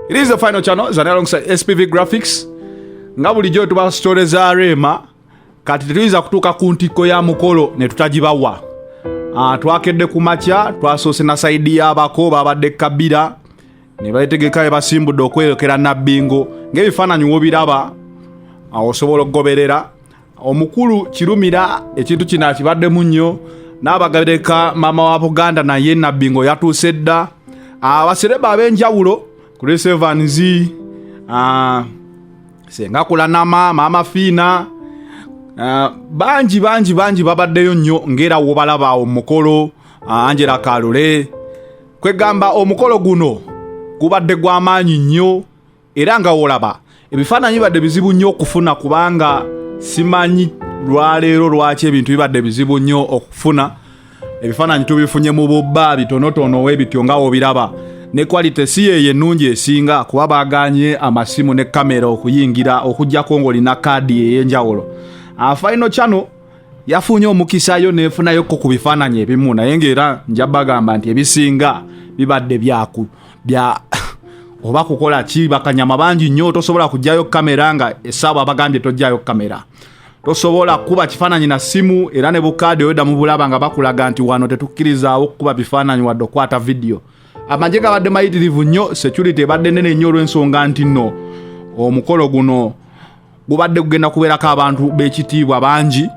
It is the final channel zana alongside SPV Graphics nga bulijjo tuba story za Rema kati tetuyinza kutuuka ku ntikko ya mukolo ne tutagibawa. Ah, twakedde ku makya twasoose na sayidi y'abako baabadde kabira ne beetegeka be basimbudde okweyokera nabbingo ng'ebifaananyi wobiraba awo osobola okugoberera omukulu kirumira ekintu kino akibaddemu nnyo n'abagabireka maama wa buganda naye nabbi nga oyatuuse dda abasereba ah, ab'enjawulo chris evans ah, senga kulanama maama fiina ah, bangi bangi bangi babaddeyo nnyo ngaera wobalaba omukolo angela kalule kwegamba omukolo guno gubadde gw'amaanyi nnyo era nga wolaba ebifaananyi bibadde bizibu nnyo okufuna kubanga simanyi lwaleero lwaki ebintu bibadde bizibu nnyo okufuna ebifaananyi tubifunye mu bubba bitonotono webityo nga wobiraba ne quality si yeyo ennungi esinga kuba baganye amasimu ne kamera okuyingira okujjako ngaolina kaadi ey'enjawulo afaino ah, cano yafunye omukisayo nefunayoko ku bifaananyi ebimu naye ngaera nja bagamba nti ebisinga bibadde byaku bya oba kukola ki bakanyama bangi nnyo tosobola kujjayo kamera nga esaaba abagambye tojjayo kamera tosobola kuba kifaananyi na simu era ne bukaadi oyodda mu bulaba nga bakulaga nti wano tetukkirizaawo kukuba bifaananyi wadde okukwata vidiyo amagye gabadde mayitirivu nnyo security ebadde nene nnyo olw'ensonga nti nno omukolo guno gubadde kugenda kubeerako abantu b'ekitiibwa bangi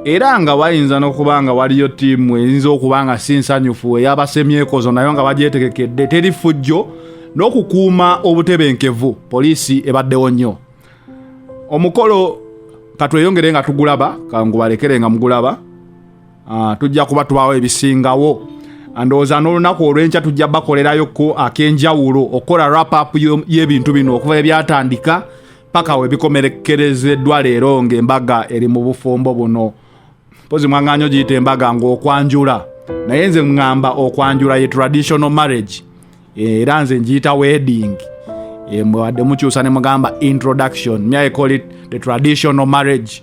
era nga wayinza n'okuba nga waliyo ttiimu eyinza okuba nga si nsanyufu eyabasemyekozo nayo nga bagyetegekedde teri ffujjo n'okukuuma obutebenkevu poliisi ebaddewo nnyo omukolo katweyongere nga tugulaba kangubalekere nga mugulaba Ah, tujja kuba tubawo ebisingawo ndowooza n'olunaku olw'enkya tujja bakolerayo ku ak'enjawulo okukola rapup y'ebintu bino okuva ebyatandika paka we bikomerekerezeddwa leero ng'embaga eri mu bufumbo buno mpozi mwaŋŋanya ogiyita embaga ng'okwanjula naye nze ŋŋamba okwanjula ye traditional marriage eh, era nze ngiyita wedding eh, mwadde mukyusa ne mugamba introduction myaecolit the traditional marriage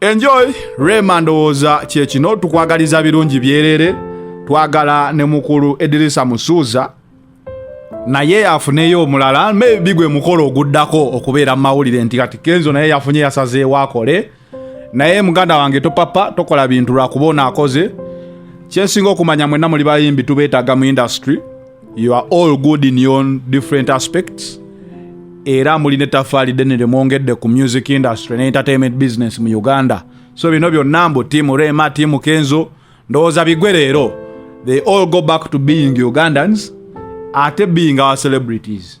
Enjoy Rema ndowooza kye kino tukwagaliza birungi byerere twagala ne mukulu Edirisa Musuuza naye afuneyo omulala maybe gwe mukolo oguddako okubeera mu mawulire nti kati Kenzo naye yafunye yasazeewo akole naye muganda wange topapa tokola bintu lwakuba onaakoze kyensinga okumanya mwenna muli bayimbi tubeetaaga mu industry you are all good in your different aspects era muli ne tafaali ddene lyemwongedde ku music industry ne entertainment business mu uganda so bino byonna mbu tiimu rema tiimu kenzo ndowooza bigwe leero they all go back to being ugandans ate being our celebrities